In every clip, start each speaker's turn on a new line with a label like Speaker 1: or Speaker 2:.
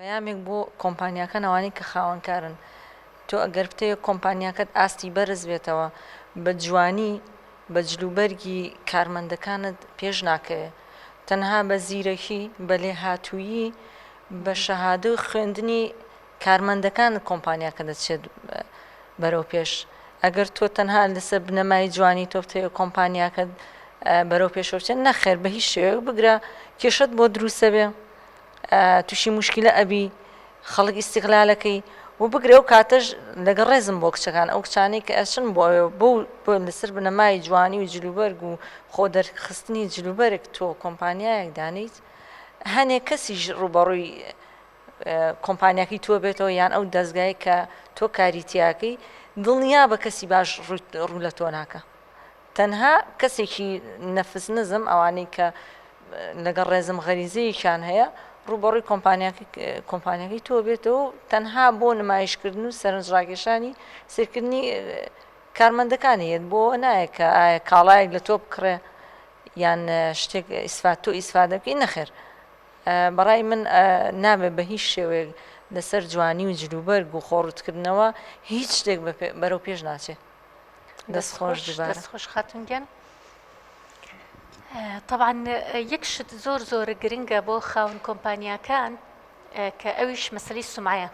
Speaker 1: پەیامێک بۆ کۆمپانیاکان ئەوانەی کە خاوەنکارن تۆ ئەگەر بتەوێت کۆمپانیاکەت ئاستی بەرز بێتەوە بە جوانی بە جلوبەرگی کارمەندەکانت پێش ناکەوێت تەنها بە زیرەکی بە لێهاتوویی بە شەهادە و خوێندنی کارمەندەکانت کۆمپانیاکە دەچێت بەرەو پێش ئەگەر تۆ تەنها لەسەر بنەمای جوانی تۆ بتەوێت کۆمپانیاکەت بەرەو پێشەوچێت نەخێر بە هیچ شێوەیەک بگرە کێشەت بۆ دروستە بێ توشی مشکلە ئەبی خەڵک ئیسیقلالەکەی و بگرە و کاتەش لەگە ڕێزم بۆ کچەکان ئەو کچانەی کە ئەچن بۆ بۆ بۆ لەسەر بنەمای جوانی و جلوبەرگ و خۆ دەرخستنی جلوبەرگ تۆ کۆمپانیایەک دانیت هەنێک کەسیش ڕوبەڕووی کۆمپانیاکی تۆ بێتەوە یان ئەو دەستگای کە تۆ کاریتیاکەی دڵنیا بە کەسی باش ڕوو لە تۆ ناکە تەنها کەسێکی نەفس نزم ئەوانەی کە لەگەڵ ڕێزم غەریزەیەکیان هەیە ڕووبەڕووی کۆمپانیەکەی تۆ بێتەوە و تەنها بۆ نمایشکردن و سەرنجڕاکێشانی سیرکردنی کارمەندەکانی هێت بۆ نایە کە ئایا کاڵایەک لە تۆ بکڕێ یان شتێک ئیسفات تۆ ئیسفادەکەی نەخێر بەڕای من نابێ بە هیچ شێوەیەک لەسەر جوانی و جلوبەرگ و خۆڕوتکردنەوە هیچ شتێک بەرەو پێش ناچێت دەستخۆش
Speaker 2: خاتونگەن طبعاان یەک شت زۆر زۆر گرنگە بۆ خاون کۆمپانیاکان کە ئەویش مەسلی سمعە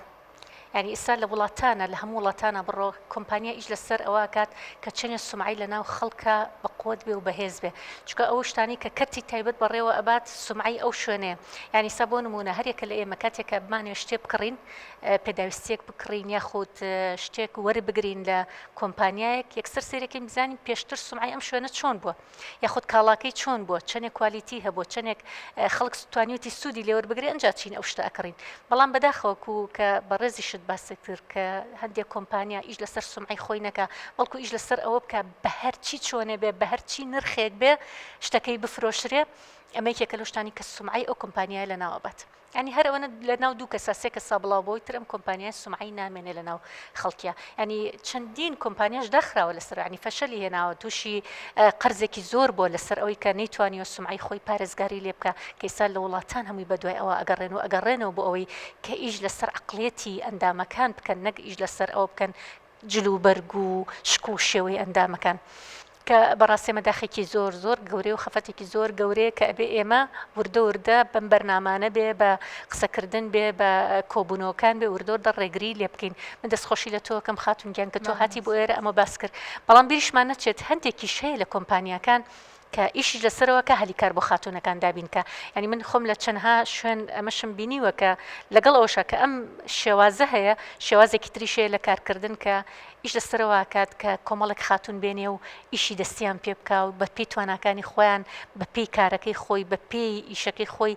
Speaker 2: ینی ئستا لە وڵاتانە لە هەموو وڵاتانە بڕۆ کۆمپانیا ئیش لەسەر ئەوە کات کە چێنە سمعی لە ناو خەڵکە بە قوت بێ و بەهێز بێ چکە ئەو شتانی کە کەرتی تایبەت بەڕێوە ئەبات سمعی ئەو شوێنێ ینی سا بۆ نمونە هەرێکە لە ئێمە کاتێکە بمانێ شتێ بکڕین پێداویستیەک بکڕین یاخود شتێک وەربگرین لە کۆمپانیایەک یەکسەر سەیرەکەین بزانین پێشتر سمعی ئەم شوێنە چۆن بووە یاخود کاڵاکەی چۆن بووە چەندێک کوالیتی هەبوو چەندێک خەڵک توانیوتی سوودی لێوەر بگرێ ئەنج چین ئەو شتە ئەکڕین بەڵام بەداخەوەکو کە بەڕێزی شت باسی کرد کە هەندێک کۆمپانیا ئیش لەسەر سمعی خۆی نەکە بەڵکو ئیش لەسەر ئەوە بکە بە هەرچی چۆنێ بێ بە هەرچی نرخێک بێ شتەکەی بفرۆشرێ ئەمەیکێکە لەشتانی کە سمعی ئەو کۆمپانیای لە ناوەبات. یانی هەر ئەوەنە لە ناو دوو کەسە سێ کەسا بڵاو بۆی تر ئەم کۆمپانیای سومعی نامێنێ لە ناو خەڵکیە ینی چەندین کۆمپانیاش داخراوە لەسەر ینی فەشەلی هێناوە تووشی قەرزێکی زۆر بۆ لەسەر ئەوی کە نەیتوانی و سومعی خۆی پارێزگاری لێ بکە کەیسا لە وڵاتان هەمووی بەدوای ئەوە ئەگەڕێن و ئەگەڕێنەوە بۆ ئەوەی کە ئیش لەسەر عقلێتی ئەندامەکان بکەن نەک ئیش لەسەر ئەوە بکەن جلوبەرگ و شک و شێوەی ئەندامەکان کە بەڕاستی ئەمە داخێکی زۆر زۆر گەورەی و خەفەتێکی زۆر گەورەیە کە ئەبێ ئێمە وردە وردە بەم بەرنامانە بێ بە قسەکردن بێ بە کۆبوونەوەکان بێ وردۆردە ڕێگری لێ بکەین من دەستخۆشی لە تۆکەم خاتونگیان کە تۆ هاتی بۆ ئێرە ئەمە باس کرد بەڵام بیریشمان نەچێت هەندێکی شەیە لە کۆمپانیەکان کە ئیشیش لەسەرەوە کە هەلی کار بۆ خاتوونەکان دابین کە یعنی من خۆم لە چەندها شوێن ئەمەشم بینیوە کە لەگەڵ ئەوشە کە ئەم شێوازە هەیە شێوازێکی تریشەیە لە کارکردن کە ئیش لەسەرواکات کە کۆمەڵک خاتون بێنێ و ئیشی دەستیان پێ بکە و بە پێی تواناکانی خۆیان بە پێی کارەکەی خۆی بە پێی ئیشەکەی خۆی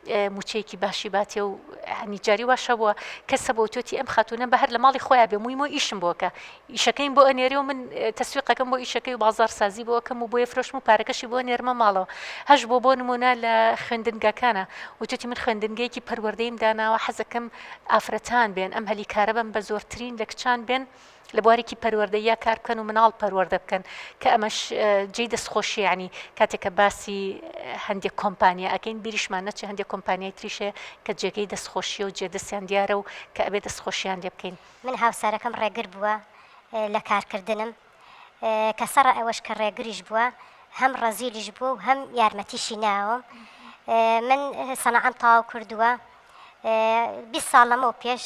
Speaker 2: موچەیەکی باشی باتێ و هەنی جاری واشە بووە کەسە بۆ تۆتی ئەم خاتونە بە هەر لە ماڵی خۆیان بێ مویمۆ ئیشم بۆکە ئیشەکەین بۆ ئەنێری و من تەسویقەکەم بۆ ئیشەکەی و بازار سازی بۆکەم و بۆیە فرۆشم و پارەکەشی بۆ نێرمە ماڵەوە هەش بۆ بۆ نمونە لە خوێندنگەکانە وتوتی من خوێندنگەیەکی پەروەردەیم داناوە حەزەکەم ئافرەتان بێن ئەم هەلی کارە بم بە زۆرترین لە کچان بێن لە بوارێکی پەروەردەییا کار بکەن و مناڵ پەروەردە بکەن کە ئەمەش جێی دەستخۆشی ینی کاتێک کە باسی هەندێک کۆمپانیا ئەکەین بیریشمان نەچێ هەندێک کۆمپانیای تریشێ کە جێگەی دەستخۆشیە و جێدەستیان دیارە و کە ئەبێ دەستخۆشیان لێ بکەین من هاوسەرەکەم
Speaker 3: ڕێگر بووە لە کارکردنم کە سەڕ ئەوەش کە ڕێگریش بووە هەم ڕەزیلیش بووە و هەم یارمەتیشی ناوم من سەنەعەم تاو کردووە 20 ساڵ لەمەو پێش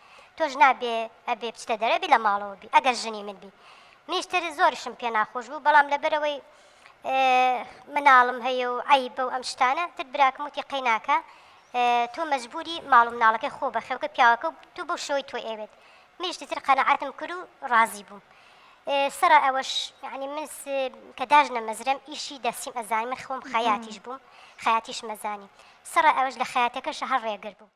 Speaker 3: تۆش نابێ ئەبێ بچتە دەرە بی لە ماڵەوە بی ئەگەر ژنی من بی منیش تر زۆرشم پێ ناخۆش بوو بەڵام لەبەرەوەی مناڵم هەیە و ئای بەو ئەم شتانە تر براکم وتی قەیناکە تۆ مەجبوری ماڵ و مناڵەکەی خۆ بە خێوکە پیاوەکە و تو بەو شەوەی تۆ ئێوێت منیشتی تر قەنەعاتم کرد و ڕازی بووم سەر ئەوەش ینی من کە داژ نەمەزرم ئیشی دەسیم ئەزانی من خۆم خەیاتیش بووم خەیاتیش مەزانی سەر ئەوەش لە خەیاتەکەش هەر ڕێگر بوو